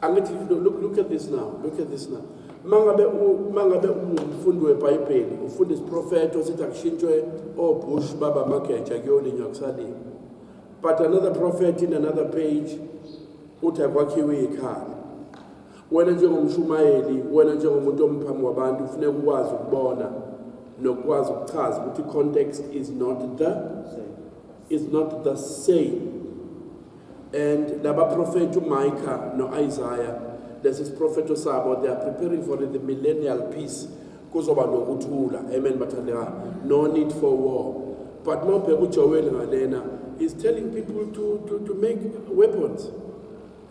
angithi look, look at this now look at this now mangabe mangabe umfundi webhayibheli ufunda isiprofeto sithi akushintshwe obush oh, baba mageja kuyolinywa kusalimi but another prophet in another page uthi akwakhiwe ikhaya wena njengomshumayeli wena njengomuntu omphambi wabantu kufuneka ukwazi ukubona nokwazi ukuchaza ukuthi context is not the is not the same and labaprofethi uMicah noIsaiah lesi siprofetho sabo they are preparing for the millennial peace kuzoba nokuthula amen bathandeka no need for war but mawubheka uJoel ngalena is telling people to to to make weapons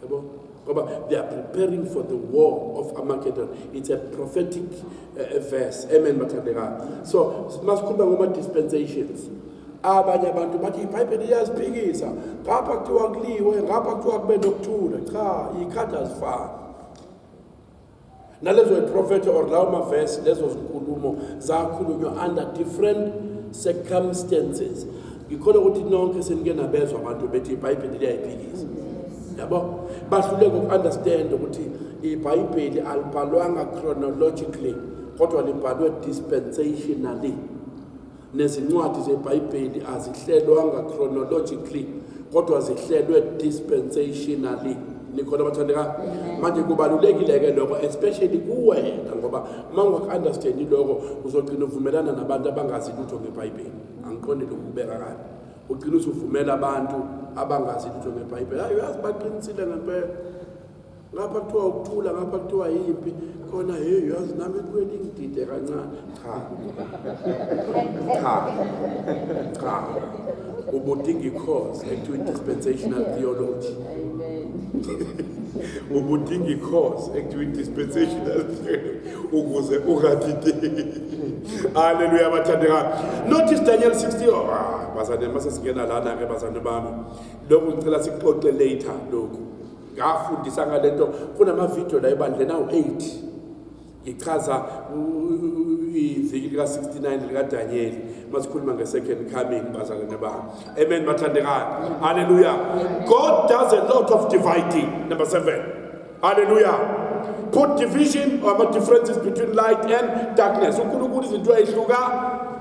yabo ngoba they are preparing for the war of Armageddon it's a prophetic uh, verse amen bathandeka so masikhuluma ngoma dispensations abanye abantu bathi ibhayibheli iyaziphikisa ngapha kuthiwa kuliwe ngapha kuthiwa kube nokuthula cha ikhadi azifani nalezo iprofetho or lawo mavesi lezo zinkulumo zakhulunywa under different circumstances ngikhona ukuthi nonke senike nabezwa abantu bethi ibhayibheli liyayiphikisa yabo bahluleka uku-understand ukuthi ibhayibheli alibhalwanga chronologically kodwa libhalwe dispensationally Nezincwadi zeBhayibheli azihlelwanga chronologically kodwa zihlelwe dispensationally nikhona bathandeka manje kubalulekile ke lokho especially kuwena ngoba uma ungaku-understandi lokho uzogcina uvumelana nabantu abangazi lutho ngebhayibheli angiqondi lokhu kubeka kabi ugcina usuvumela abantu abangazi lutho ngebhayibheli hayi uyazi baqinisile ngempela ngapha kuthiwa ukuthula ngapha kuthiwa yimpi khona hey yazi nami kweli ngidide kancane cha cha cha ubudinga i-course ekuthiwa i-dispensational theology ubudinga i-course ekuthiwa i-dispensational theology ukuze ungadideki haleluya bathandekayo notice daniel 60 oh, ah, bazane masesingena lana-ke bazane bami lokhu ngicela sikuxoxe later lokhu ngafundisa ngale nto kunamavidiyo la ebandleni awu-8 ngichaza iviki lika-69 likadanyeli masikhuluma nge-second coming bazalwane bami amen bathandekayo halleluya god does a lot of dividing number seven halleluya put division or differences between light and darkness unkulunkulu izinto ayihluka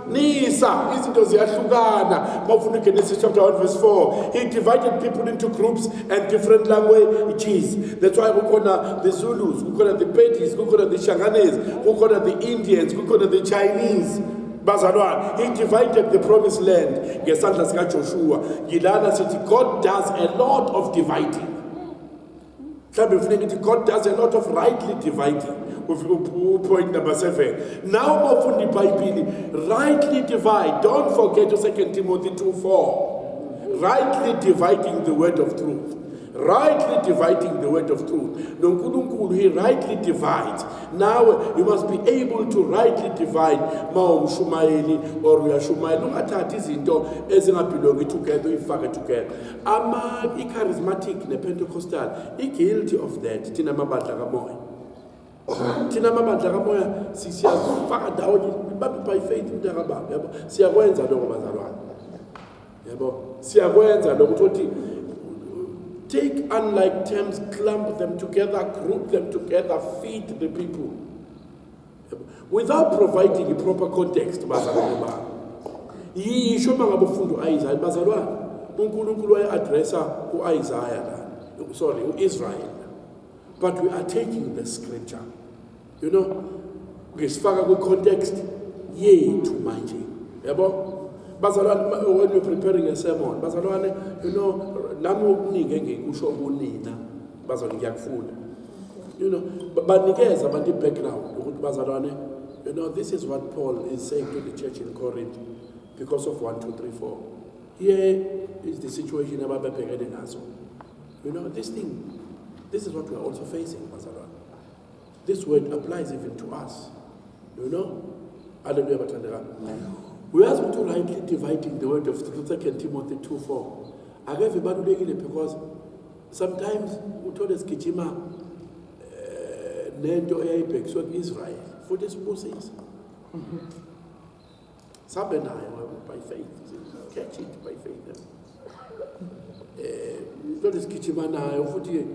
Nisa, izinto ziyahlukana. Mawufuna Genesis chapter 1 verse 4. He divided people into groups and different languages. That's why kukhona the Zulus, kukhona the Pedis, kukhona the Shanganese, kukhona the Indians, kukhona the Chinese. bazalwane he divided the promised land ngesandla sikajoshua ngilana sithi god does a lot of dividing mhlawumbe ngifune ngithi god does a lot of rightly dividing upoint number seven naw uma ufunda ibhayibhili rightly divide don't forget u-second timothy 2 4 rightly dividing the word of truth rightly dividing the word of truth nonkulunkulu he rightly divides nawe you must be able to rightly divide ma umshumayeli or uyashumayela ungathathi izinto ezingabhilongi together uyifake together ama i-charismatic ne-pentecostal i-guilty of that thina amabandla kamoya thina amabandla kamoya siyazifaka ndawonye ibambe by faith umntakababa yabo siyakwenza lokho bazalwane yabo siyakwenza lokho ukuthi take unlike terms clump them together group them together feed the people without providing a proper context bazalwane bami yisho uma ngabe ufunda u-isaya bazalwane unkulunkulu waye-adressa u-isaya la sorry u-israyeli but we are taking the scripture you know ngisifaka kwi-context yethu manje yabo bazalwane when you're preparing a sermon bazalwane you know nami okuningi engikusho kunina bazalwane ngiyakufunda you know banikeza abantu i-background ukuthi bazalwane you know this is what paul is saying to the church in corinth because of 1 2 3 4 here is the situation ababebhekene nazo you know this thing this is what we are also facing bazalwane This word applies even to us. You know? Hallelujah bathandekani. Uyazi ukuthi urightly dividing the word of 2 Timothy 2:4. Akeve balulekile because sometimes uthole sigijima eh, nento eyayibhekiswe ku-Israel futhi sibusisa. Sabe nayo by faith. Catch it by faith. Eh, into lesigijima nayo futhi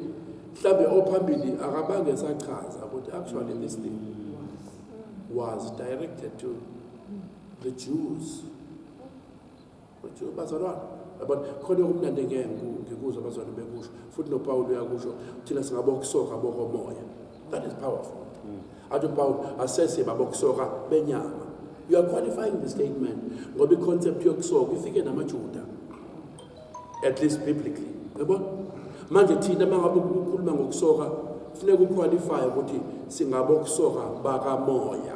mhlambe ophambili akabange sachaza ukuthi actually this thing was directed to the Jews. bazalwane yabona khona okumnandi engeke ngikuzwa abazwane bekusho futhi nopawulu uyakusho thina singabokusoka bokomoya that is powerful mm. athi upawulu asese babokusoka benyama you are qualifying the statement ngoba iconcept yokusoka ifike namajuda at least biblically yabona manje thina mangabe ukukhuluma ngokusoka funeka uqualify ukuthi singabokusoka bakamoya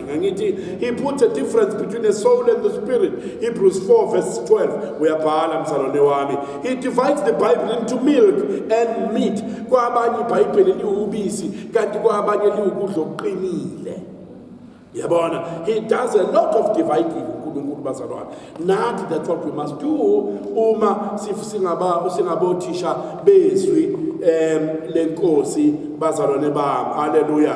ngithi he puts a difference between the soul and the spirit hebrews 4 verse 12 uyabhala msalwane wami he divides the bible into milk and meat kwabanye ibhayibheli liwubisi kanti kwabanye liwukudla okuqinile yabona he does a lot of dividing unkulunkulu bazalwane nathi that's what we must do uma singabothisha bezwi um lenkosi bazalwane bami haleluya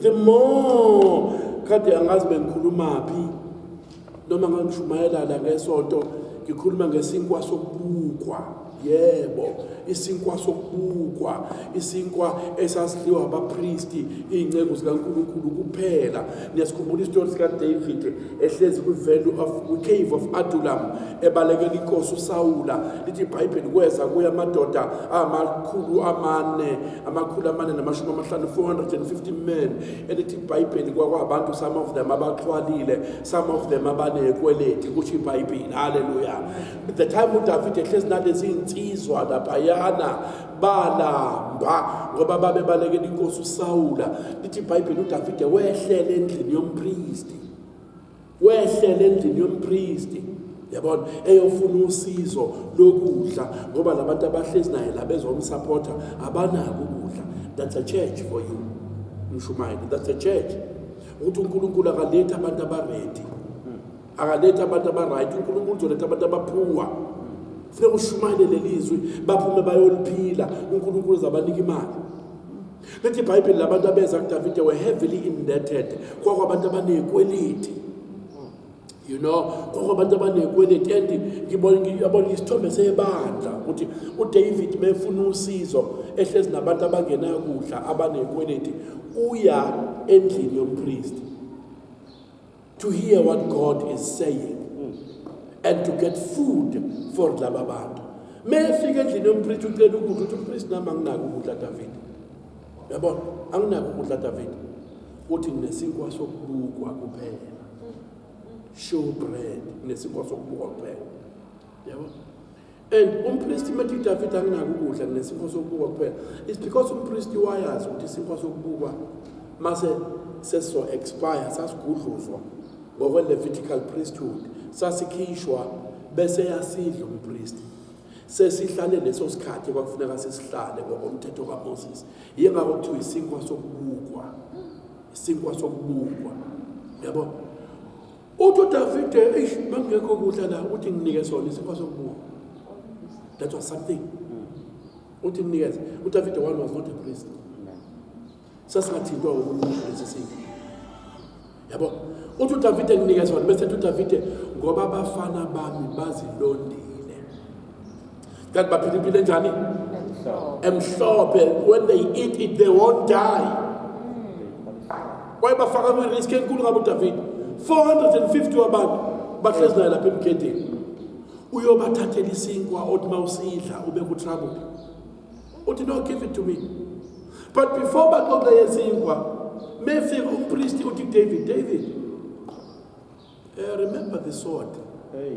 the more kade angazi bengikhulumaphi noma ngangishumayela la ngesonto ngikhuluma ngesinkwa sokubukwa yebo isinkwa sokubukwa isinkwa esasidliwa abapristi iy'nceku zikankulunkulu kuphela niyasikhumbula isitori sikadavid ehlezi kwivenue of cave of adulam ebalekela inkosi usawula lithi ibhayibheli kweza kuye amadoda amakhulu amane amakhulu amane namashumi amahlanu 450 men elithi ibhayibheli kwakwabantu some of them abaxhwalile some of them abanekweleti kusho ibhayibheli haleluya the time udavide ehlezi nalezi nsizwa laphayana balamba ngoba babe balekela inkosi usawula lithi ibhayibheli udavide wehlele endlini yompristi wehlela endlini yompristi yabona eyofuna usizo lokudla ngoba labantu abahlezi naye la bezomsupporter abanako ukudla that's a church for you mshumayeli that's a church ukuthi uNkulunkulu akaletha abantu abaready akaletha abantu abaright uNkulunkulu uzoletha abantu abaphuwa funeka ushumayele lelizwi baphume bayoliphila uNkulunkulu uzabanika imali Lithi iBhayibheli labantu abeza kuDavide were heavily indebted. Kwakwabantu abanekweliti. You know, kwakwabantu abanekweliti and ngibona isithombe sebandla ukuthi uDavid mefuna usizo ehlezi nabantu abangenakudla abanekweliti uya endlini yompristi. to hear what God is saying and to get food for laba bantu mefika endlini yompriest ucela ukudla uthi umpriest nami anginaki ukudla David yabona anginaki ukudla David uthi nesinkwa sokubukwa kuphela show bread nesinkwa sokubukwa kuphela yabona and umpristi methi udavide anginaki ukudla nginesinkwa sokubukwa kuphela is because umpristi wayazi ukuthi isinkwa sokubukwa mase seso expire sasigudluzwa ngokwe-levitical priesthood sasikhishwa bese yasidla umpristi sesihlale leso sikhathi kwakufuneka sisihlale ngokomthetho kamoses yingakho kuthiwa isinkwa sokubukwa isinkwa sokubukwa yabo Uthi uDavide eish mangekho kudla la uthi nginike sona isifa sokubuka. That was something. Uthi nginikeze. UDavide one was not a priest. Sasingathintwa uNkulunkulu lesi sifa. Yabo. Uthi uDavide nginikeze sona bese uDavide ngoba abafana bami bazilondile. kanti baphila impilo enjani emhlophe when they eat it they won't die kwaye bafaka kwi-risk enkulu ngabo udavid 450 wabantu bahlezi naye lapha emgedeni uyobathathela isinkwa othi uma usidla ube kutrouble uthi no give it to me but before baxoxe yesinkwa mefika umpristi uthi david david uh, remember the sword hey.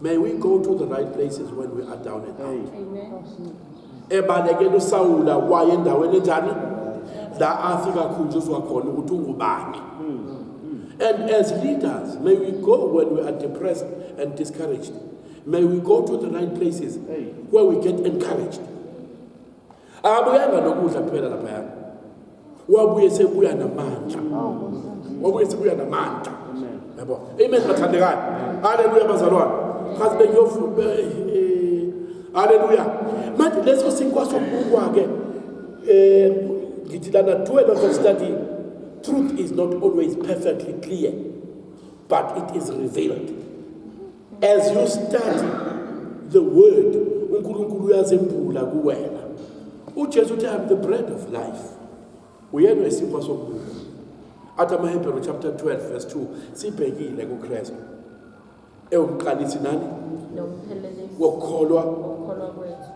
May we go to the right places when we are down and out. Ebalekela uSawula waye endaweni enjani? La athi kakhunjuzwa khona ukuthi ungubani. And as leaders, may we go when we are depressed and discouraged. May we go to the right places where we get encouraged. akabuyanga nokudla kuphela laphaya wabuye sekuya namandla wabuye sekuya namandla yabo amen bathandekayo haleluya bazalwane kazi bengiyofuna eh, eh, haleluya manje leso sinkwa sokubukwa ke eh ngithi lana do a lot of study truth is not always perfectly clear but it is revealed As you study the word, uNkulunkulu uyazembula kuwena. UJesu uthi I'm the bread of life. Uyena isinkwa sokuphila. Athi amaHebheru chapter 12 verse 2 sibhekile kuKristu. Ewuqalisi nani? Nomphelelisi. Wokukholwa. Wokukholwa kwethu.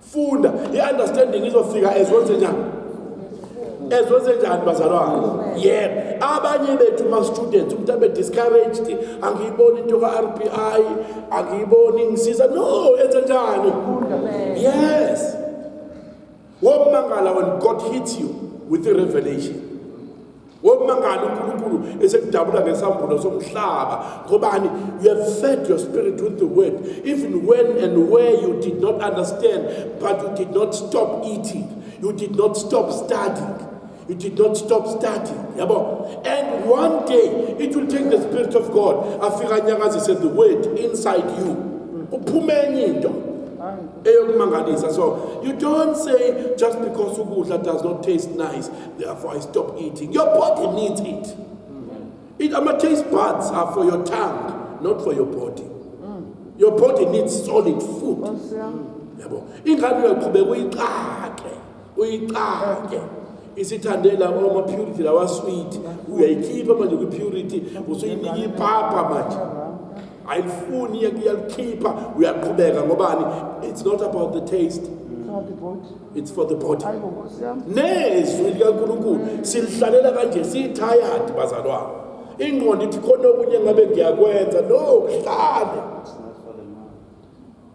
funda i-understanding izofika ezwenzenjani ezwenzenjani bazalwane yebo abanye bethu ma-students umuntu abe discouraged angiyiboni into ka-r b i angiyiboni ngisiza no enze njani yes womangala when god hits you with a revelation Womangala uNkulunkulu esekudabula ngesambulo somhlaba ngobani you have fed your spirit with the word even when and where you did not understand but you did not stop eating you did not stop studying you did not stop studying yabo and one day it will take the spirit of God afika nyakazise the word inside you uphume enye into eyokumangalisa so you don't say just because ukudla does not taste nice Therefore, I stop eating. Your body needs it. It ama taste buds are for your tongue, not for your body. Your body needs solid food. Nkosi yami. Yabo. Ingane uyaqhubeka uyiqake, uyiqake. Isithandela ama purity lawa sweet. Uyayikhipha manje kwi purity, usuyinika ipapa manje. ayifuni iyalukhipha uyaqhubeka ngobani it's not about the taste it's for the body nezwi likankulunkulu silihlalela kanje siyithayadi bazalwane ingqondo ithi khona okunye ngabe ngiyakwenza no kuhlale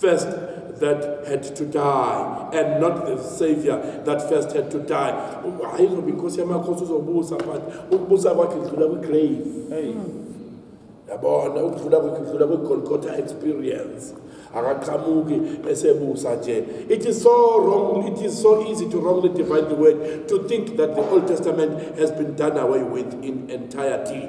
first that had to die and not the savior that first had to die hayi zoba inkosi yamakhosi uzobusa but ukubusa kwakhe kudlula kwi-grave yabona ukudlula kwakhe kudlula kwi-golgotha experience akaqhamuki esebusa nje it is so wrong it is so easy to wrongly divide the word to think that the old testament has been done away with in entirety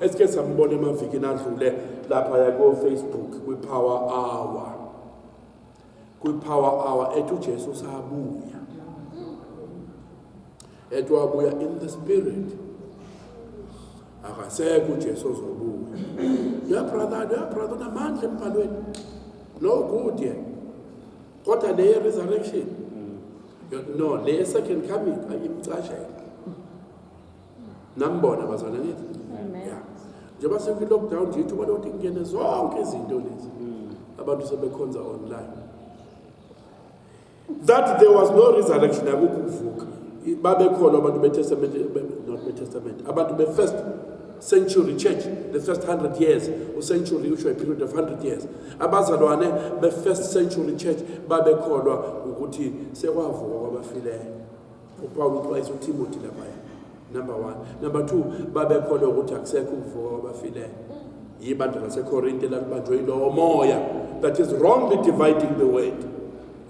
esike sambona emavikini adlule lapha yakofacebook kwi-power hour kwi-power hour ethi ujesu usabuya ethi wabuya in the spirit akasekho ujesu ozobuya ya brother ya brother unamandla embhalweni no good ye kodwa le resurrection no le second coming ayimcashela nambona bazwana ngithi yeah njengoba sekwi lockdown nje ithuba lokuthi kungene zonke izinto lezi mm. abantu sebekhonza online that there was no resurrection akukho ukuvuka babekholwa abantu betestament not betestament abantu befirst century church the first 100 years ucentury usho iperiod of 100 years abazalwane be-first century church babekholwa ukuthi sekwavuka kwabafileyo upawula uxwayisa utimothy laphaya number one number two babekholwa ukuthi akusekho ukuvuka kwabafileyo yibandla lasekorinte lalibanjwe yilowo moya that is wrongly dividing the word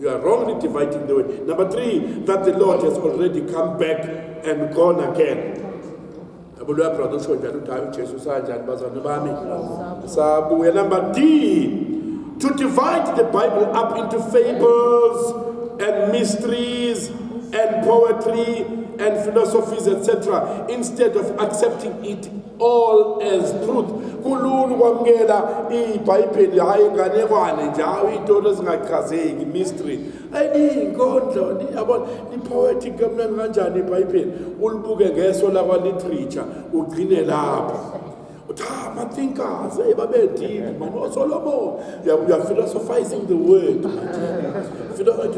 you are wrongly dividing the word number three that the lord has already come back and gone again Yabo loya brother usho njalo ukuthi hayi uJesu usanjani bazalwane bami. Sabuya number D to divide the Bible up into fables and mysteries and poetry and philosophies etc instead of accepting it all as truth kulula ukwamukela ibhayibheli hhayi inganekwane nje hawu iy'tolo ezingachazeki mystery iyinkondlo yabona i-poetic kamnani kanjani ibhayibheli ulibuke ngeso lakwa-literature ugcine lapho uthi ha ah, mathinkers eyi babedini mani osolomon you're philosophizing the word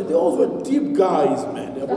they always were deep guys man yabo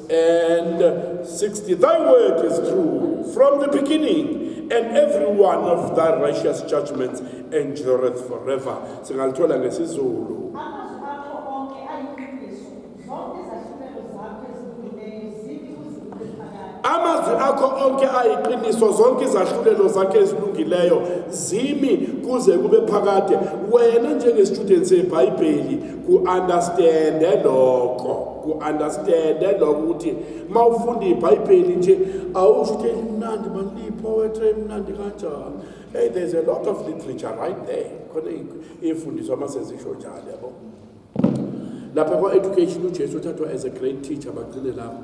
And 60, thy word is true from the beginning, and every one of thy righteous judgments endureth forever. Singalithola ngesizulu. amazwi akho onke ayiqiniso zonke izahlulelo zakhe ezilungileyo zimi kuze kube phakade wena njengestudent sebhayibheli ku-understande lokho ku-understande lokho ukuthi uma ufunda ibhayibheli nje awusho ukuthi elimnandi manilipowetri emnandi kanjani hey there's a lot of literature right there khona iy'fundiswa uma sezisho njalo yabo lapha kwa-education ujesu uthathwa as a great teacher bagcine lapho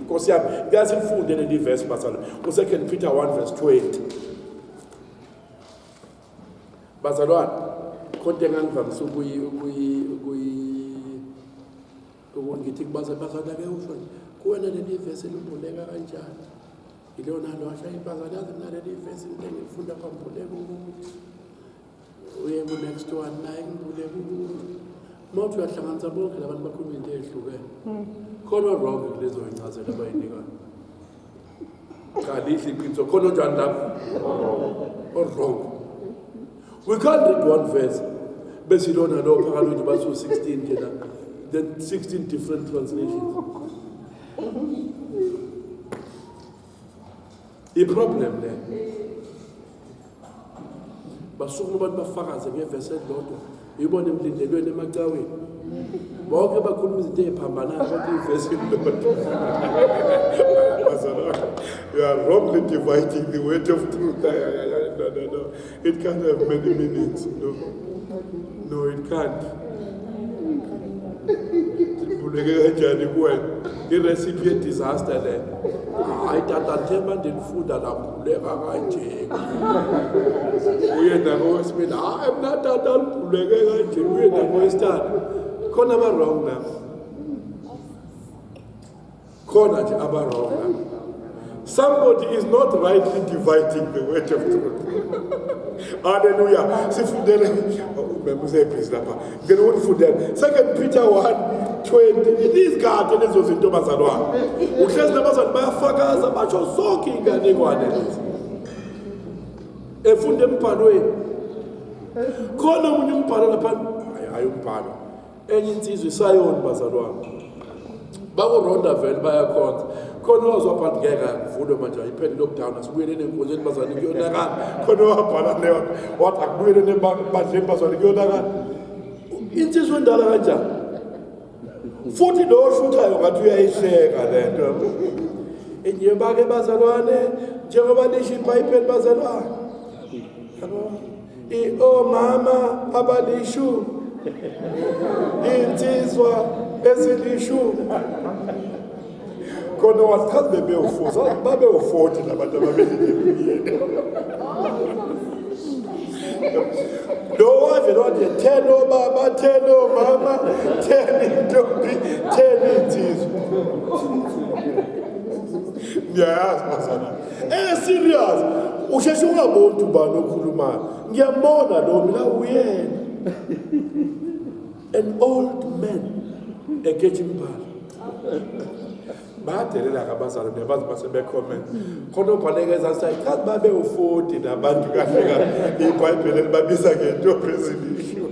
Nkosi yami, ngiyazi ngifunde leli verse bazalwa. U-Second Peter 1 verse 20. Bazalwane, konke engangivamise ukuyi ukuyi ukuyi ukungithi kubaza bazalwa ke usho nje. Kuwena leli verse limbuleka kanjani? Yilona lwasha ibazalwa naleli verse ngeke ngifunda phambi kuleku. uye ku next one naye ngibule uma uthi uyahlanganisa bonke labantu bakhuluma into eyehlukene hmm. khona wrong kulezo yincazelo abayinikayo kalihle iqiniso khona onjani lapho orong we can't read one verse besilona lo phakathi ukuthi basu 16 nje la then 16 different translations iproblem le basukuma abantu bafakaze ngevesi elilodwa ibona emlindelweni emacaweni bonke bakhuluma izinto ey'phambanayo bonke ivesi elilodwa you are wrongly dividing the weight of truth no, no, no. It can't have many meanings. No, no it can't. Ndibuleke kanjani kuwena? I-recipe ye-disaster le. Hayi tata themba ndinifunda labhuleka kanje. Uye nakowesibili, hayi mna tata libhuleke kanje. Uye nakowesithathu. Khona ba-wrong na? khona nje abarong somebody is not rightly dividing the word of truth halleluya sifundele mem usebhizi lapha ngena ukundifundela second peter 1 20 inizikade lezo zinto bazalwane uhlezi nabazali bayafakaza basho zonke iy'nganekwane lezi efunda embhalweni khona omunye umbhalo lapha hayi umbhalo enye insizwa isayoni bazalwane bakuronda vele bayakhonza khona owazwabhala ngeke akuvulwe manje ayiphele lockdown asibuyeleni enkonzweni bazane kuyonakala khona owabhala leyo wathi akubuyeleni ebandleni bazane kuyonakala insizwa endala kanjani futhi lo oshuthayo ngathi uyayihleka le nto enye bake bazalwane njengoba lisho ibhayibheli bazalwane yabo iomama abalishumi iy'nsizwa ezilishumi khona wachazi bebewufuza babewufoti labantu ababelileluyeni lowaze lwathi ten obaba ten omama ten intombi ten insizwa ngiyayazi bazana Eh serious. Usheshe ungaboni ubani okhulumayo. Ngiyambona lo mina uyena. An old man ekethi impala. bayadelela kabazali nebazi basebecomment khona obhaleke ezasayichazi babe u-40 nabantu kahle kahle ibhayibheli elibabiza ngento presidition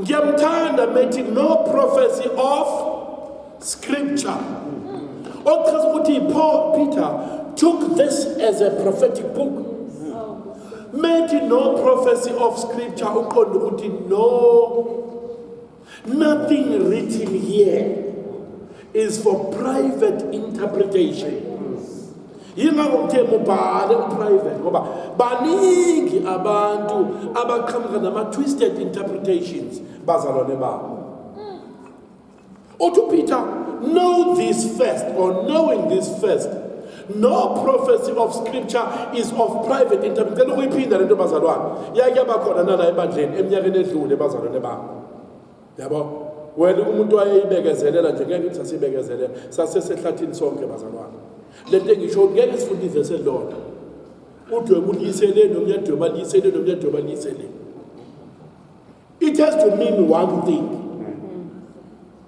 ngiyamthanda methi no prophecy of scripture okuchaza ukuthi paul peter took this as a prophetic book methi no prophecy of scripture uqonda ukuthi no Nothing written here is for private interpretation. Yingakho kuthe mubhale uprivate ngoba baningi abantu abaqhamuka nama-twisted interpretations bazalwane babo. Uthi uPeter, know this first or knowing this first No prophecy of scripture is of private interview. Ngicela ukuyiphinda lento bazalwane. Yake yabakhona nala ebandleni eminyakeni edlule bazalwane bami. Yabo? Wena umuntu wayeyibekezelela nje ngeke uthi asibekezelela. Sase sehlathini sonke bazalwane. Lento engisho ngeke sifunde ivese lodwa. Udwe kuliyisele nomnye dwe baliyisele nomnye dwe baliyisele. It has to mean one thing.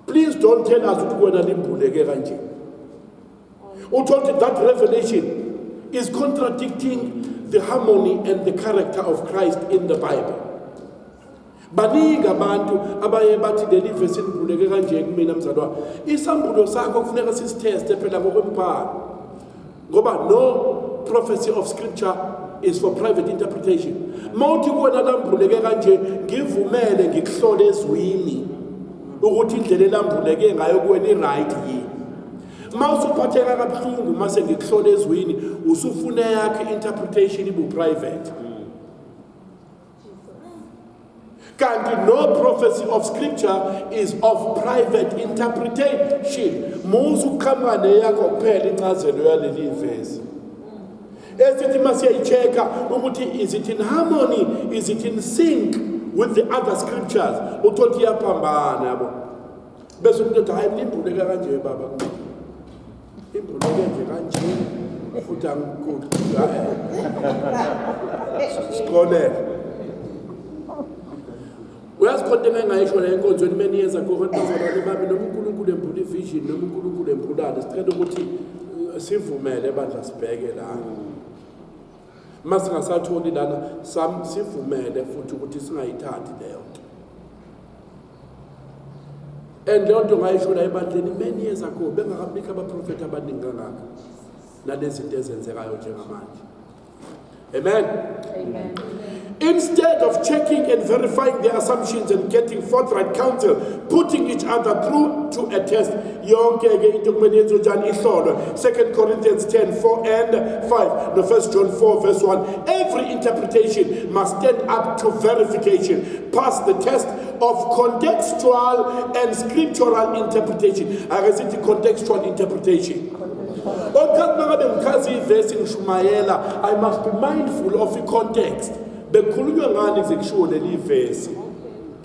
Please don't tell us ukuthi wena limbuleke kanje. uthola ukuthi that revelation is contradicting the harmony and the character of christ in the bible baningi abantu abaye bathi leli vesi libuleke kanje kumina mzalwa isambulo sakho kufuneka sisitheste phela ngokwembhalo ngoba no prophecy of scripture is for private interpretation mawuthi kuwena lambuleke kanje ngivumele ngikuhlole ezwini ukuthi indlela elambuleke ngayo kuwena i-right yini uma usuphatheka kabuhlungu uma sengikuhlola ezwini usufuna yakho i-interpretation ibu-private kanti no prophecy of scripture is of private interpretation musa ukuqhamuka neyakho kuphela incazelo yaleli vesi esithi uma siyayi-check-a ukuthi is it in harmony is it in sync with the other scriptures uthole ukuthi iyaphambana yabo bese umuntu ethi hayi limbuleka kanje baba imbuleke nje kanje futhi angikude sikolele uyazi khona into engayisho la enkonzweni uma niyenza kohonazalwane bami noma unkulunkulu embula ivision noma unkulunkulu embulane sicela ukuthi eh, sivumele bandla sibheke la uma singasatholi lana sivumele futhi ukuthi singayithathi leyo nto and leyo nto ngayisho la ebandleni many years ago bengakabikho abaprofethi abaningi kangaka nalezi zinto ezenzekayo njengamanje amen amen Instead of checking and verifying their assumptions and getting forthright counsel, putting each other through to a test, yonke ke into kumele yenziwe njani ihlolwe. 2 Corinthians 10, 4 and 5, no 1 John 4 verse 1. Every interpretation must stand up to verification, pass the test of contextual and scriptural interpretation ake sithi contextual interpretation okuthathi mangabe ngichaza ivesi ngishumayela i must be mindful of i-context bekhulunywa ngani kuze kushiwo leli vesi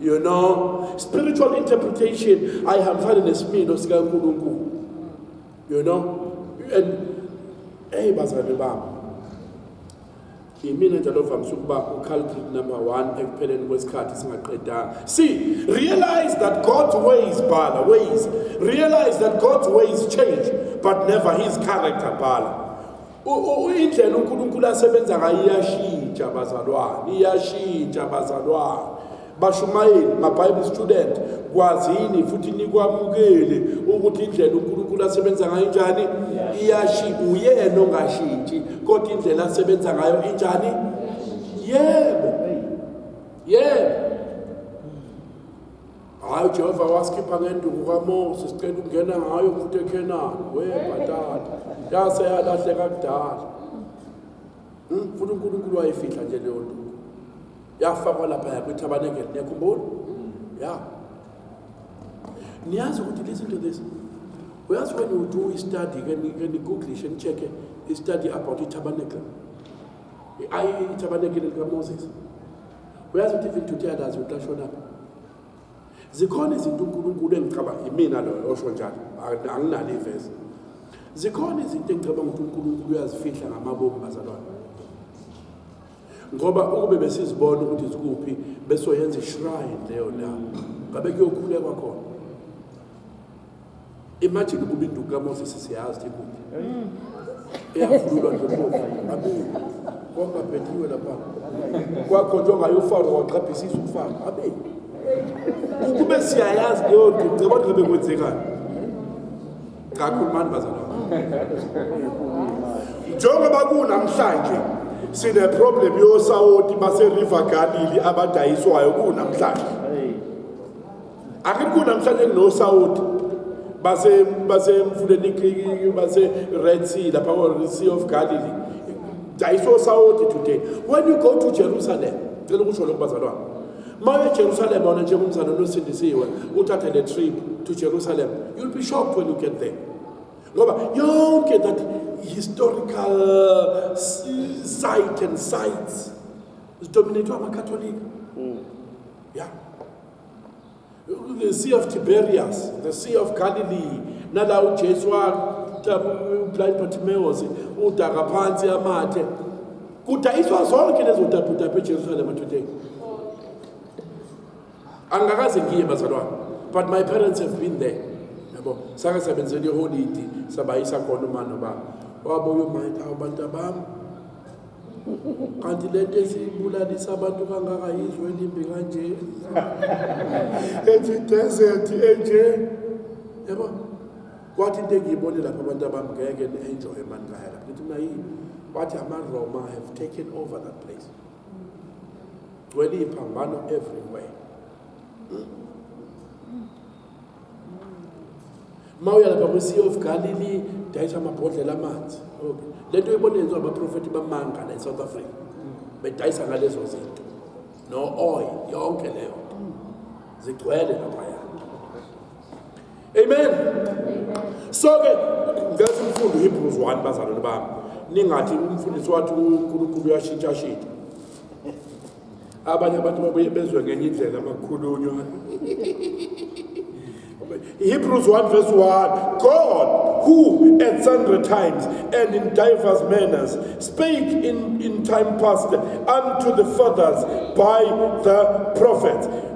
you know spiritual interpretation ayihambisane nesimilo sikankulunkulu you know and eyi bazalwane bami yimina njalo ovamise ukuba uculprit number one ekupheleni kwesikhathi singaqedanga see realize that god's ways bhala ways realize that god's ways change but never his character bhala indlela unkulunkulu asebenza ngayo iyashintsha bazalwane iyashintsha bazalwane bashumayeli mabible student kwazini futhi nikwamukele ukuthi indlela uNkulunkulu asebenza ngayo njani iyashi uyena ongashintshi kodwa indlela asebenza ngayo injani yebo yebo hayi Jehova wasikhipha ngenduku kaMose sicela ukungena ngayo futhi eKhenani we batata yase yalahleka kudala Hmm, futhi uNkulunkulu wayifihla nje leyo nduku. Yafakwa lapha yakwiTabernacle, niyakhumbula? Ya. Niyazi ukuthi listen to this. Uyazi when you do i-study, ke ni- ke ni-googlishe, ni-check-e i-study about iTabernacle. I- i- iTabernacle likaMoses. Uyazi ukuthi even today akazi ukuthi ashonaphi. zikhona izinto uNkulunkulu engicabanga imina loyo osho njalo anginalo ivesi zikhona izinto engicabanga ukuthi uNkulunkulu uyazifihla ngamabomu bazalwane ngoba ukube besizibona ukuthi zikuphi besoyenza ishrine leyo ndawo ngabe kuyokhulekwa khona Imagine ukuba induku kaMoses siyazi ukuthi ikuphi. Eyavululwa nje kufa. Abi konke abhethiwe lapha. Kwakho nje ongayofaro waqhaphisa isu kufana. Abi ukube siyayazi leyo nto ngicabanga ngabe kwenzekani. Cha khulumani bazalwane. Njengoba kunamhlanje sine problem yosawoti base River Galilee abadayiswayo kunamhlanje. akekho namhlanje kunosawoti base basemfuleni ikhiki base red sea lapha or sea of galilee dayiso sawoti today when you go to jerusalem cela ukusho lokhu bazalwane uma uye jerusalem wona njengomzana onosindisiwe uthathe le trip to jerusalem you'll be shocked when you get there ngoba yonke that historical site and sites zidominethwe amakatholika mm. yeah the sea of tiberias the sea of galilee nala ujesu blind bartimeus udaka phansi amathe kudayiswa zonke lezo dabhudabhu ejerusalema today angikaze ngiye bazalwane but my parents have been there yabo sake sabenzela iholidi sabayisa khona uma nobaba wabuye umayitha abantu abami kanti le nto esibulalisa abantu kangaka yizwe elimbi kanje ethi desert enje yabo kwathi into engiyibone lapha abantu abami ngeke ni-enjoye mani kaya lapha ngithi mna yini wathi amaroma have taken over that place gcwele iphambano everywhere uma uya lapha kwi-sea of galilee dayisa amabhodlela amanzi okay le nto ibona yenziwa abaprofethi bamanga la e-south africa bedayisa ngalezo zinto no-oil yonke leyo nto zigcwele laphaya amen so-ke ngenza umfundo uhebrews one bazalwane bami ningathi umfundisi wathi unkulunkulu uyashintshashintsha abanye abantu babuye bezwe ngenye indlela amakhulunywa Hebrews 1 verse 1 God, who at sundry times and in divers manners spake in, in time past unto the fathers by the prophets.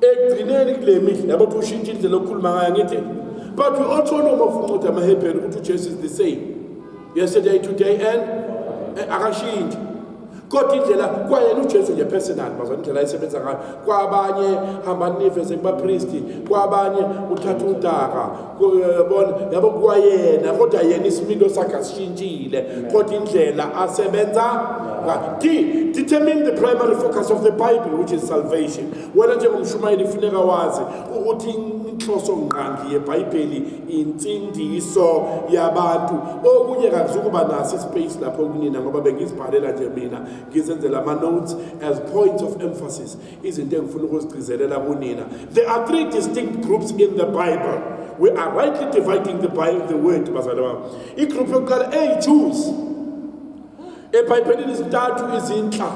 ekugcineni kule mihla yabo ukuthi ushintshe indlela okukhuluma ngayo ngithi but we also know mafunqothi amahebheni ukuthi ujesu is the same yesterday today and eh, akashintshi kodwa indlela kwayena ujesu nje personal bazwa indlela ayisebenza ngayo kwabanye hambani niveze kubapristi kwabanye uthatha udaka yabona yabo kwayena kodwa yena isimilo sakhe asishintshile kodwa indlela asebenza D, determine the primary focus of the Bible, which is salvation. Wena njengomshumayeli funeka wazi ukuthi inhloso ngqangi yebhayibheli insindiso yabantu okunye kakuzukuba naso ispace lapho kunina ngoba bengizibhalela nje mina ngizenzela ama-notes as points of emphasis izinto engifuna ukuzigcizelela kunina there are three distinct groups in the bible we are rightly dividing the, Bible, the word bazali bami igroup yokuqala eyi-jews ebhayibhelini izintathu izinhla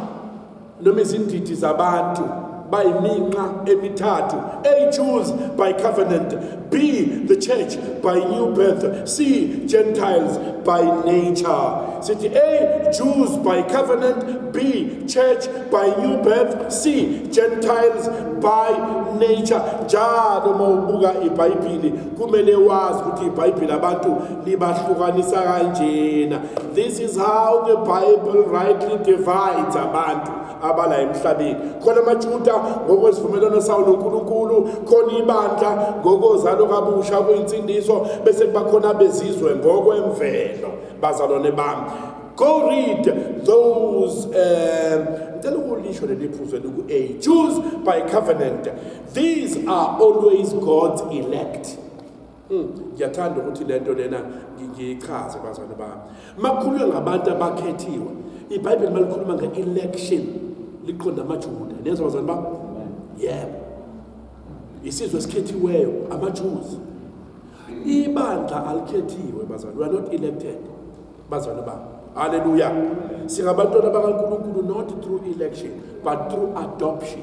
noma izindidi zabantu bayiminqa emithathu eyi-jews by covenant B. The church by new birth. C. Gentiles by nature. City A. Jews by covenant. B. Church by new birth. C. Gentiles by nature. Njalo uma ubuka iBhayibhili kumele wazi ukuthi iBhayibhili abantu libahlukanisa kanjena. This is how the Bible rightly divides abantu. abala emhlabeni khona amajuda ngokwesivumelwano sawo nonkulunkulu khona ibandla ngokozalo kabusha kuyinsindiso bese kuba khona abezizwe ngokwemvelo bazalwane bami go read those um ngicela ukulisho leli phuzo liku-a jews by covenant these are always god's elect Hmm, ngiyathanda ukuthi le nto lena ngiyichaze bazane bami makukhulunywa ngabantu abakhethiwe ibhayibheli malikhuluma nge-election liqonda amajuda neza bazane bami yebo isizwe esikhethiweyo amajuzi ibandla alikhethiwe bazane we are not elected bazane bami halleluya singabantwana bakankulunkulu not through election but through adoption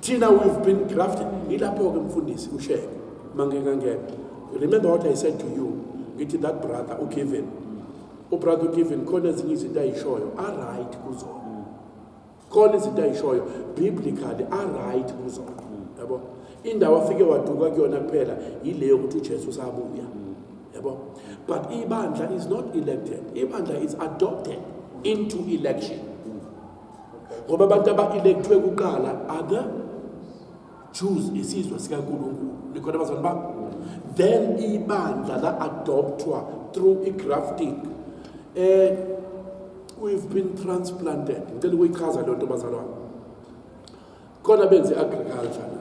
thina we've been grafted ilapho-ke mfundisi usheke mangingangena remember what i said to you ngithi that brother ugiven ubrother ugiven khona ezinye izinto ayishoyo aright kuzona khona izinto ayishoyo biblically aright kuzona yabo indawo afike waduka kuyona kuphela yileyo ukuthi ujesu usabuya yabo but ibandla is not elected ibandla is adopted into election ngoba abantu aba-elekthwe kuqala ada jews isizwe sikankulunkulu likhona abazani ba then ibandla la-adopthwa through i-grafting um we've been transplanted ngicela ukuyichaza leyo nto bazalwane khona benze i-agriculture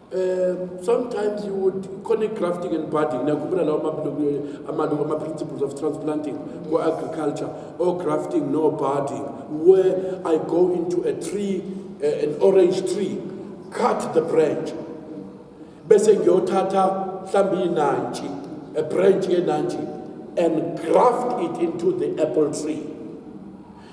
Um, sometimes you would khona i-grafting and budding nakhumbula lawo mabilokuyo amaluku ama-principles of transplanting ko-agriculture or grafting no budding where i go into a tree uh, an orange tree cut the branch bese ngiyothatha mhlawumbe inantshi a branch yenantshi and graft it into the apple tree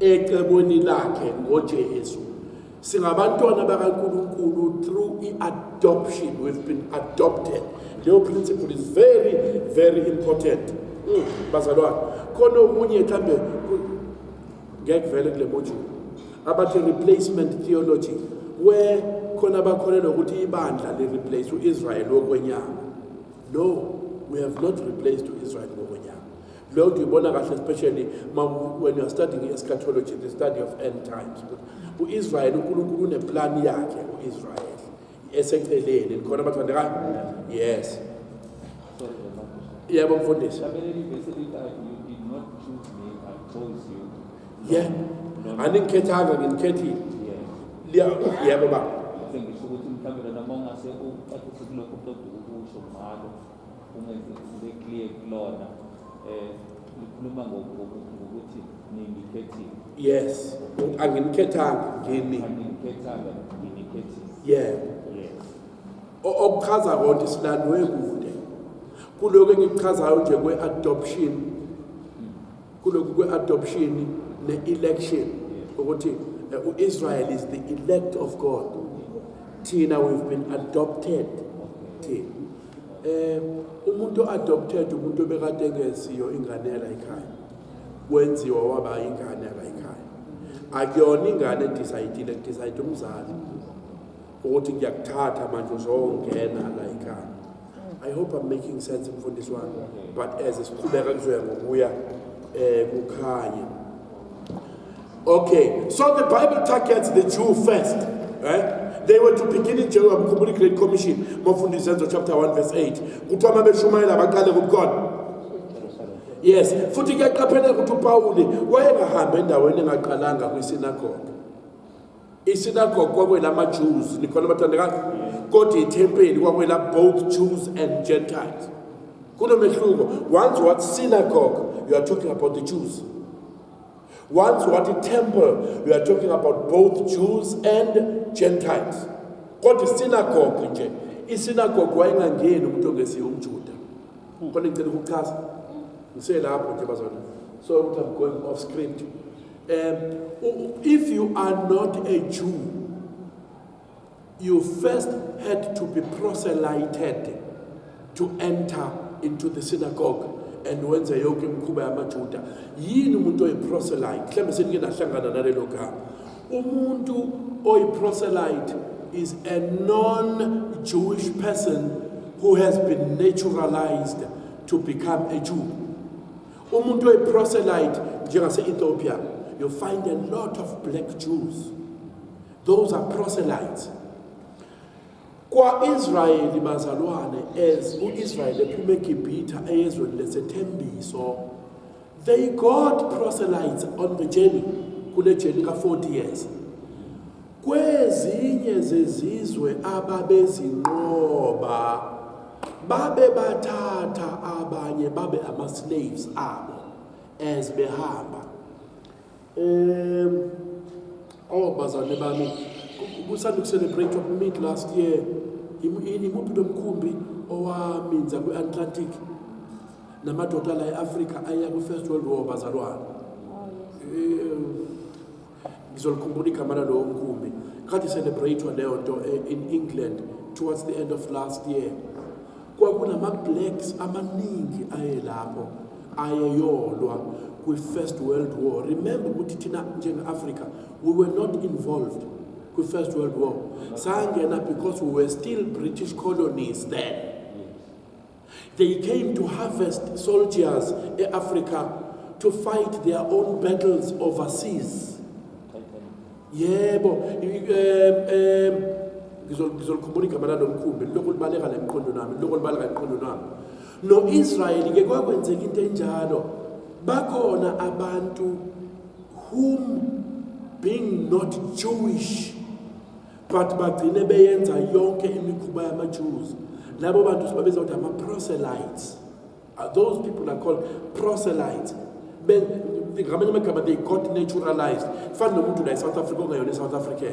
ecebweni lakhe ngoJesu singabantwana bakaNkulunkulu through i-adoption we've been adopted leyo principle is very very important mm, bazalwane khona okunye mhlambe ngeke vele kule module abathi replacement theology where khona bakholelwa ukuthi ibandla li-replace u-israyeli wokwenyama no we have not replaced u-israyeli wokwenyama leyo nto uyibona kahle especially when youare studying eschatology the study of end times u-israyeli unkulunkulu uneplani yakhe u-israyeli eseceleni khona bathandekayo yes yebo mfundisi ye andikhethanga nginikhethile yebo ba uma zibe clear kulona eh likhuluma ngokuthi ningikhethile yes angimkhethanga ngini angimkhethanga nginikhethile yeah okuchaza konke silandwe kude kuloko engikuchazayo nje kwe-adoption kuloku kwe-adoption ne-election ukuthi eh, u-israel is the elect of god thina we've been adopted thina eh umuntu adopted umuntu obekade engesiyo ingane yalayikhaya kwenziwa waba ingane yalayikhaya akuyona ingane edecide decide umzali ukuthi ngiyakuthatha manje uzongena layikhaya i hope i'm making sense mfundisi wami but as siqhubeka kuzoya ngokuya eh kukhanye Okay, so the Bible targets the Jew first, right? They were to begin in Jehovah Mkhumbuli Great Commission, Mofundisi Zenzo chapter 1 verse 8. Kuthiwa uma beshumayela baqale kubukhona. Yes, futhi kuyaqapheleka ukuthi uPawuli wayengahambi endaweni engaqalanga kwisinagoga. Isinagogu kwakwelamaJews, nikhona bathandekazi, kodwa ithempeli kwakwela both Jews and Gentiles. Kunomehluko. Once what synagogue, you are talking about the Jews. Once what a temple, you are talking about both Jews and Gentiles. Kodwa isinagogu nje, isinagogu wayengangeni umuntu ongesiyo umJuda. Kodwa ngicela ukuchaza. Ngiselapho nje bazona. So I'm going off script. Um, if you are not a Jew, you first had to be proselyted to enter into the synagogue and wenze yonke imikhuba yamajuda yini umuntu oyiproselyte mhlawumbe senike nahlangana nalelo gama umuntu oyiproselyte is a non-jewish person who has been naturalized to become a jew Umuntu oyiproselyte njengase-Ethiopia, you find a lot of black Jews. Those are proselytes. Kwa-Israyeli bazalwane as u-Israyeli ephuma eGibhitha eyezweni lesethembiso they got proselytes on the journey kule journey ka-40 years Kwezinye zezizwe ababezinqoba babe bathatha abanye babe ama-slaves abo as behamba um oh bazalwane bami kusanda ukucelebrate mid last year imuphi lo mkhumbi owaminza kwi-atlantic namadoda la e-afrika aya kwi-first world war bazalwane oh, ngizolikhumbula igama lalowo mkhumbi kade celebrate leyo nto eh, in England towards the end of last year kwakunama blacks amaningi aye lapho ayeyolwa kwi first world war remember ukuthi thina njengeAfrica we were not involved kwi first world war sangena because we were still british colonies then They came to harvest soldiers e-Africa to fight their own battles overseas. Yebo, ngizolukhumbula igama lalo mkhumbi lokhu libaleka la emqondo nami lokhu libaleka emqondo nami no-israyeli ke kwakwenzeka into enjalo bakhona abantu whom being not jewish but bagcine beyenza yonke imikhuba yamaJews labo bantu sibabiza ukuthi ama-proselytes uh, those people are called proselytes ngamanye amagama they got naturalized fani nomuntu la e-south africa ongayona e-south african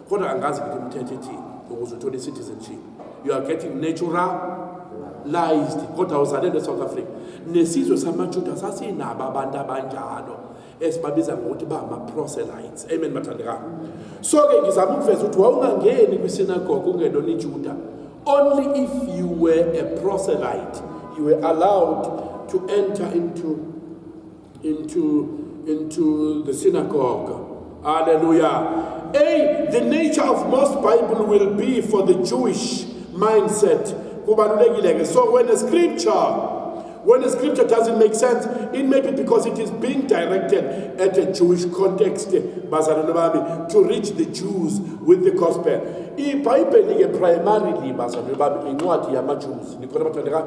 kodwa angazi ukuthi umthetho ethini ukuze uthole i-citizenship you are getting naturalized kodwa uzalelwe e-south africa nesizwe samajuda sasinabo abantu abanjalo esibabiza ngokuthi ba ama proselytes amen mathandekayo so ke ngizama ukuveza ukuthi wawungangeni kwi synagogue ungelona iJuda only if you were a proselyte you were allowed to enter into into into the synagogue hallelujah hey the nature of most bible will be for the jewish mindset kubalulekile ke so when a scripture When a scripture doesn't make sense, it may be because it is being directed at a Jewish context, bazalwane bami, to reach the Jews with the gospel. IBhayibheli ke primarily bazalwane bami incwadi yamaJews. Nikhona bathandeka?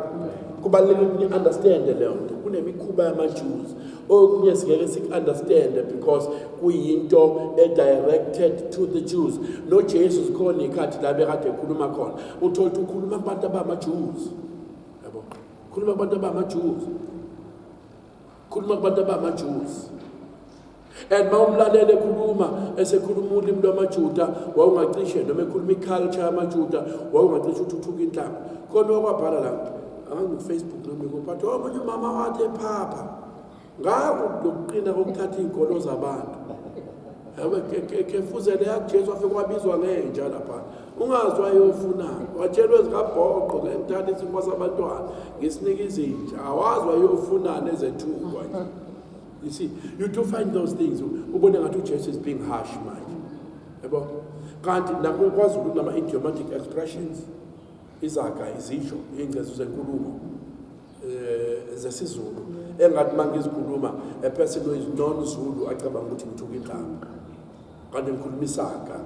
Kubalulekile ukuthi ni-understand leyo nto. Kunemikhuba yamaJews. Okunye singeke siku-understand because kuyinto e-directed to the Jews. NoJesu zikhona iy'khathi la bekade ekhuluma khona. Uthole ukuthi ukhuluma kubantu abamaJews. khuluma abantu abamajuzi khuluma kubantu abamajuzi and uma umlalele ekhuluma esekhuluma ulimi lwamajuda wawungacishe noma ekhuluma iculture yamajuda wawungacishe uthuthuka inhlanga khona wakwabhala la angangifacebook nomiko but omunye umama wathi ephapha ngako lokuqina kokuthatha iy'nkolo zabantu kefuzele yakujesu afike wabizwa ngenja lapha ungazi wayofunani watshelwe zikabhoqo ngengithanda isimo sabantwana ngisinika izinja awazi wayofunani ezethukwa nje you see you do find those things ubone ngathi ujesu is being harsh manje yabo kanti nakwazulu kunama-idiomatic expressions izaga izisho iy'ngcezu zenkulumo eh, zesizulu engathi uma ngizikhuluma a person who is non zulu acabanga ukuthi ngithuka indlaba kanti ngikhuluma isaga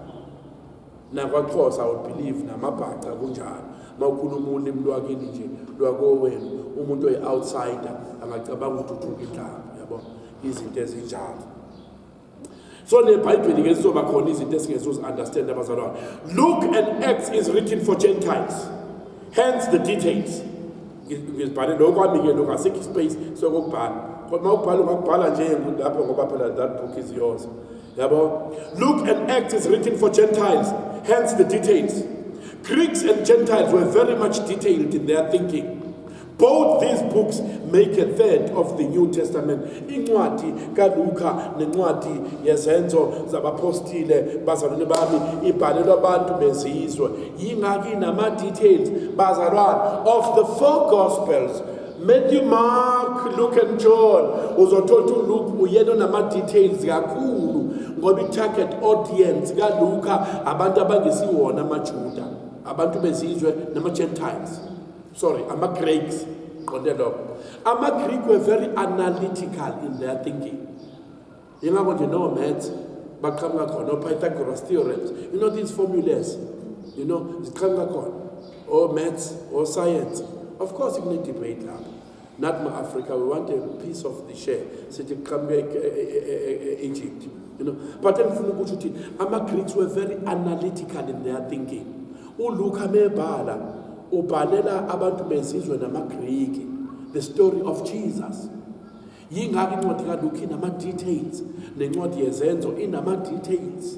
nakwaxhosa i would believe namabhaca kunjalo uma ukhuluma ulimi lwakini nje lwakowenu umuntu oyi-outsider angacabanga ukuthi uthuka indlaba yabo izinto ezinjalo so nebhayibheli ke sizoba khona izinto esingezuzi-understand abazalwane luke and acts is written for gentiles hence the details ngizibhale lokho kwami-ke lokho asikho ispace sokokubhala kodwa uma ubhala ungakubhala nje lapho ngoba phela that book is yours yabo luke and acts is written for gentiles hence the details greeks and gentiles were very much detailed in their thinking Both these books make a third of the New Testament. Incwadi kaLuka nencwadi yezenzo zabapostile bazalwane bami ibhalelwa abantu bezizwe. Yingaki nama details bazalwane of the four gospels Matthew, Mark, Luke and John uzothola ukuthi uLuke uyena onama details kakhulu ngoba i-target audience kaLuka abantu abangesiwona amaJuda, abantu bezizwe nama-Gentiles. sorry ama-greeks qonde lokho ama-greek were very analytical in their thinking yingakho nje no-maths baqhamuka khona o-pythagoras theorems you know these formulas you know ziqhamuka khona o-maths o-science of course kune-debate lapho Not my Africa, we want a piece of the share. Sithi kuqhamuka e- e- e- e- Egypt. You know, but engifuna ukuthi uthi ama Greeks were very analytical in their thinking. ULuka mebhala ubhalela abantu bezizwe namaGriki the story of Jesus. Yingakho incwadi kaLuka inama details nencwadi yezenzo inama details.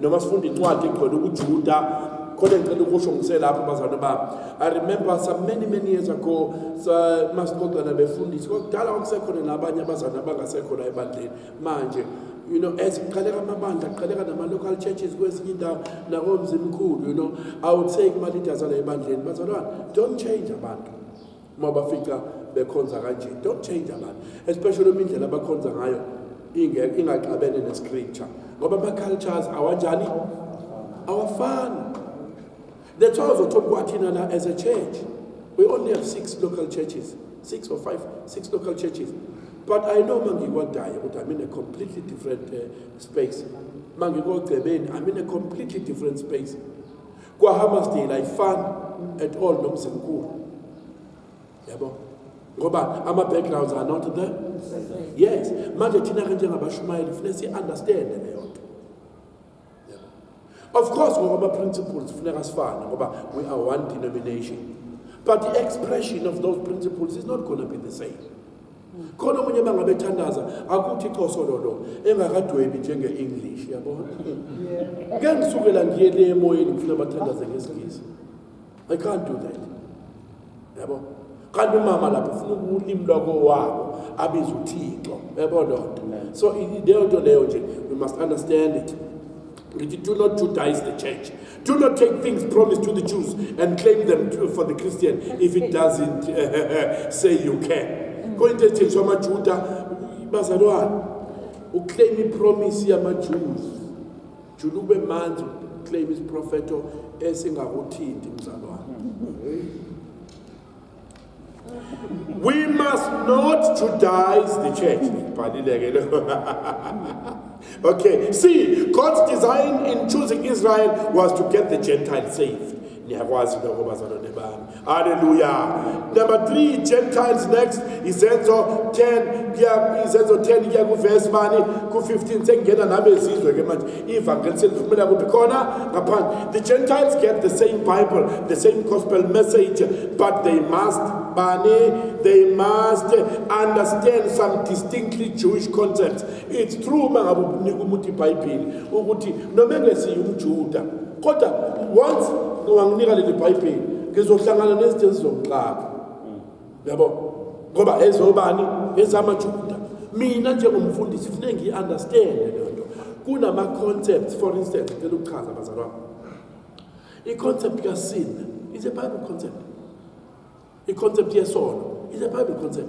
noma sifunda incwadi egcwele ukujuda khona ngicela ukusho ngiselapho bazalwane bami i remember some many many years ago masixoxela befundisi kwakudala kwakusekhona nabanye abazalwane abangasekhona ebandleni manje you know as kuqaleka amabandla kuqaleka nama-local churches kwezinye indawo nakomzimkhulu you know i would say kuma-leaders ala ebandleni bazalwane don't change abantu uma bafica bekhonza kanje don't change abantu especially uma indlela abakhonza ngayo ingaxabene nescripture ngoba ama-cultures awanjani awafani that's why uzothola kwathina la as a church we only have six local churches six or five six local churches but i know uma ngikwadayo ukuthi i'm in a completely different uh, space uma ngikogcebeni i'm in a completely different space KwaHammarsdale ayifani at all nomzimkhulu yabo ngoba ama-backgrounds are not there yes manje thina-ke njengabashumayeli funeka si-understande leyo nto of course ngokwama-principles funeka sifane ngoba we are one denomination but the expression of those principles is not going to be the same khona omunye bangabe ethandaza akuthi iqoso lolo engakadwebi njenge-english yabona ke ngisukela ngiye le emoyeni ngifuna bathandaze ngesingisi i can't do that yabo kanti umama lapho ufuna ukulimi lwako wabo abiza uthixo yabo loo nto so leyo nto leyo nje we must understand it Ngithi do not Judaize the church. Do not take things promised to the Jews and claim them to, for the Christian if it doesn't uh, say you can. Kuyinto ethenjiswa amaJuda bazalwane. Uclaim ipromise yamaJews. Jula ube manzi uclaim isiprofeto esingakuthinti mzalwane. We must not Judaize the church. okay, see, God's design in choosing Israel was to get the Gentiles saved. niyakwazi lokho bazalwane bami haleluya number 3 gentiles next izenzo 10 kuya izenzo 10 kuya kuvesi bani ku-15 sengingena nabezizwe ke manje ivangeli selivumela kuphi khona ngaphandle the gentiles get the same bible the same gospel message but they must bani they must understand some distinctly jewish concepts it's true uma ngabe unika umuntu ibhayibheli ukuthi noma engesiye umjuda kodwa once wanginika leli bhayibheli ngizohlangana nezinto ezizongixaka yabo ngoba ezobani ezamajuda mina njengomfundisi kufuneka ngiyi-understande leyo nto kunama-concepts for instance ngicela ukuchaza abazali wami i-concept kasin is a bible concept i-concept yesono is a bible concept